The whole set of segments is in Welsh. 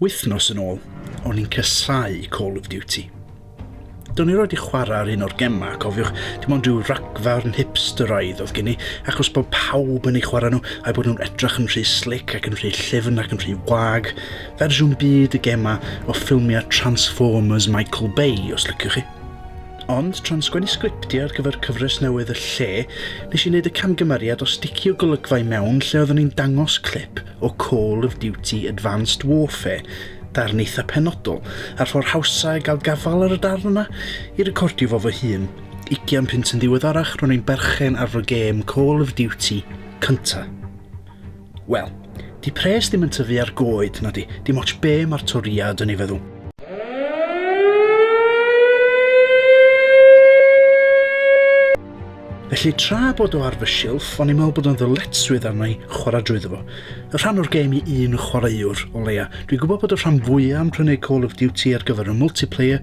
Wythnos yn ôl, o'n i'n casáu Call of Duty. Do'n i erioed 'di chwarae ar un o'r gemau, cofiwch, dim ond rhyw ragfarn hipsteraidd oedd gen i, achos bod pawb yn ei chwarae nhw a'i bod nhw'n edrych yn rhy slic ac yn rhy llyfn ac yn rhy wag, fersiwn byd y gemau o ffilmiau Transformers Michael Bay, os liciwch chi. Ond, tra'n sgwennu sgriptiau ar gyfer cyfres newydd Y Lle, nes i wneud y camgymeriad o sticio golygfa i mewn lle oeddwn i'n dangos clip o Call of Duty Advanced Warfare, darn eitha penodol, a'r ffordd hawsa i gael gafael ar y darn yna, i recordio fo fy hun. Ugian punt yn ddiweddarach, ro'n i'n berchen ar fy gêm Call of Duty cynta. Wel, di pres ddim yn tyfu ar goed, na di, dim ots be mae'r toriad yn ei feddwl. Felly tra bod o ar fy silff, o'n i'n meddwl bod o'n ddyletswydd arna i chwarae drwyddo fo. Y rhan o'r gêm i un chwaraewr, o leia. Dwi'n gwybod bod y rhan fwyaf yn prynu Call of Duty ar gyfer y multiplayer,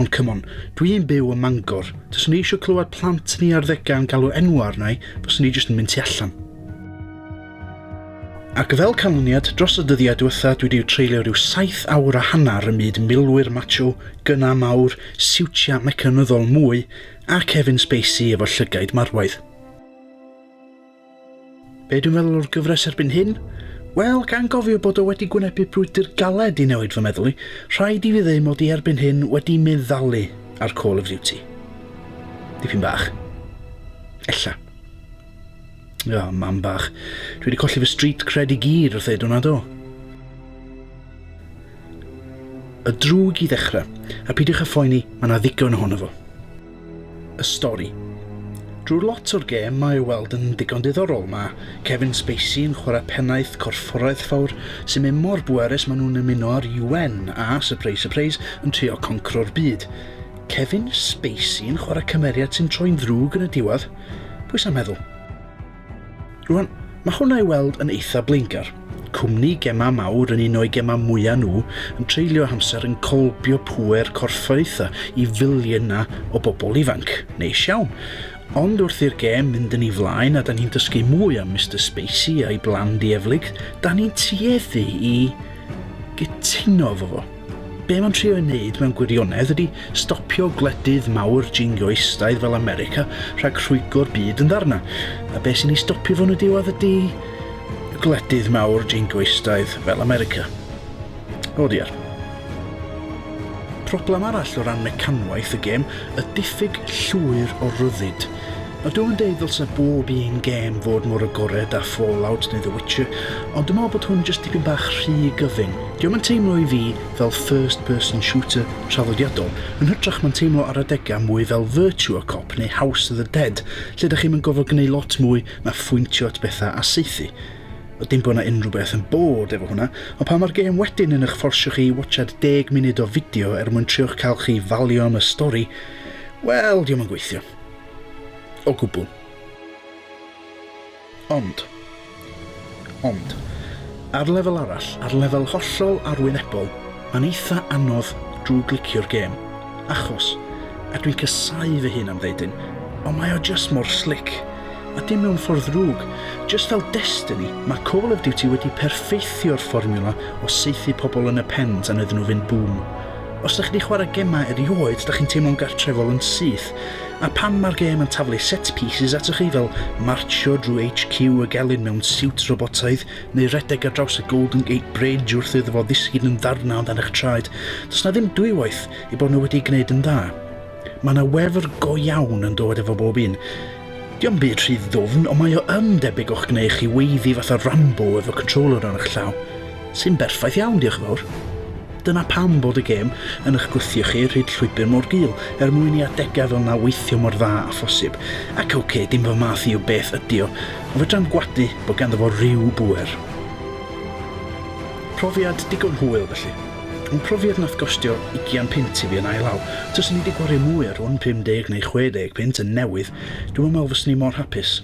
ond come on, dwi'n byw ym Mangor. Taswn i eisiau clywed plant ni arddegau yn galw enwau arna i, fyswn i jyst yn mynd tu allan. Ac fel canlyniad, dros y dyddiau diwetha dwi wedi treulio rhyw saith awr a hanner ym myd milwyr macho, gyna mawr, siwtiau mecanyddol mwy, A Kevin Spacey efo llygaid marwaidd. Be dwi'n meddwl o'r gyfres erbyn hyn? Wel, gan gofio bod o wedi gwynebu brwydr galed i newid fy meddwl i, rhaid i fi ddeu mod i erbyn hyn wedi meddalu ar Call of Duty. Dipyn bach. Ella. Ia, mam bach. Dwi wedi colli fy street cred i gyd wrth ddeud hwnna do. Y drwg i ddechrau, a peidiwch â phoeni, mae yna ddigon ohono fo. Y stori. Drwy'r lot o'r gêm mae ei weld yn ddigon diddorol, mae Kevin Spacey yn chwarae pennaeth corfforaeth fawr sy'n mynd mor bwerus maen nhw'n ymuno â'r UN a, surprise surprise, yn trio concro'r byd. Kevin Spacey yn chwarae cymeriad sy'n troi'n ddrwg yn y diwedd? Pwy sy'n meddwl? Rwan, mae hwnna i weld yn eitha blaengar. Cwmni gemau mawr yn un o'i gemau mwyaf nhw yn treulio amser yn colbio pŵer corfforaethau i filiynau o bobl ifanc. Neis iawn. Ond wrth i'r gem mynd yn ei flaen a da ni'n dysgu mwy am Mister Spacey a'i blan dieflig, da ni'n tueddu i gytuno efo fo. Be mae'n trio ei wneud mewn gwirionedd ydy stopio gwledydd mawr jingoistaidd fel America rhag rhwygo'r byd yn ddarna. A be sy'n ei stopio fo'n y diwedd ydy gwledydd mawr jingoistaidd fel America. O diar. Problem arall o ran mecanwaith y gêm y diffyg llwyr o ryddid. Ydw yn deud ddylse bob un gêm fod mor agored â Fallout neu The Witcher, ond dwi'n meddwl bod hwn jyst dipyn bach rhy gyfyng. Dio'm yn teimlo i fi fel first person shooter traddodiadol, yn hytrach ma'n teimlo ar adega mwy fel Virtua Cop neu House of the Dead lle dych chi'm yn gorfod gneud lot mwy na phwyntio at bethau a saethu. Dim bod 'na unrhyw beth yn bored efo hwnna, ond pan mae'r gêm wedyn yn ych fforsio chi i watsiad deg munud o fideo er mwyn trio'ch cael chi falio am y stori, Wel, diom yn gweithio. O gwbl. Ond. Ond. Ar lefel arall, ar lefel hollol arwynebol, mae'n eitha anodd drwy glicio'r gêm. Achos, a dwi'n casau fy hun am ddeudyn, ond mae o just mor slick. A dim mewn ffordd ddrwg. Just fel Destiny, mae Call of Duty wedi perffeithio'r fformiwla o saethu pobl yn y pen tan iddyn nhw fynd bŵm. Os dych chi 'di chwarae gemau erioed, dych chi'n teimlo'n gartrefol yn syth. A phan mae'r gêm yn taflu set pieces atoch chi fel martsio drwy HQ y gelyn mewn siwt robotaidd, neu rhedeg ar draws y Golden Gate Bridge wrth iddo fo ddisgyn yn ddarnau o dan eich traed, does 'na ddim dwywaith ei bod nhw wedi ei gwneud yn dda. Mae yna wefr go iawn yn dod efo bob un. Dio'm byd rhy ddwfn, ond mae o yn debyg o'ch gwneu chi weiddi fatha Rambo efo controller ar eich llaw, sy'n berffaith iawn, diolch yn fawr. Dyna pam bod y gêm yn eich gwthio chi rhyd llwybr mor gul, er mwyn i adegau fel 'na weithio mor dda â phosib. Ac ok, dim fy math i o beth ydi o, ond fedrai'm gwadu bod ganddo fo ryw bŵer. Profiad digon hwyl felly. Ond profiad nath gostio ugian punt i fi yn ail law. Tyswn i di gwario mwy ar rwn 50 neu 60 punt yn newydd, dwi'm yn me'wl fyswn i mor hapus.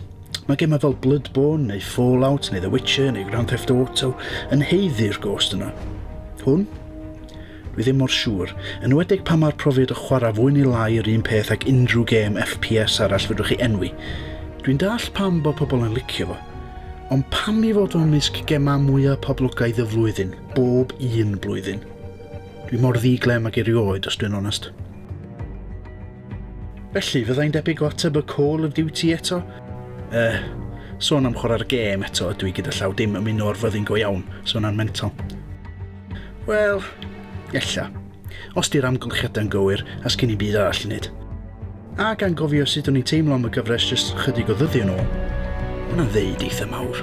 Mae gemau fel Bloodborne neu Fallout neu The Witcher neu Grand Theft Auto yn haeddu'r gost yna. Hwn? Dwi ddim mor siŵr, enwedig pan mae'r profiad o chwarae fwy neu lai yr un peth ag unrhyw gêm FPS arall fedrwch chi enwi. Dwi'n dallt pam bod pobl yn licio fo, Ond pam i fod o mysg gemau mwyaf poblogaidd y flwyddyn, bob un blwyddyn? Dwi mor ddi-glem ac erioed, os dwi'n onest. Felly, fyddai'n debyg o ateb y Call of Duty eto? Eh, sôn am chwarae'r gêm eto ydw i gyda llaw dim ymuno o'r fyddin go iawn, so yna'n mental. Wel, ella. Os 'di'r amgylchiadau yn gywir, a sgin i'm byd arall i wneud. Ac anghofio sut o'n i'n teimlo am y gyfres jyst chydig o ddyddiau yn ôl. Mae hwnna'n ddeud eitha mawr.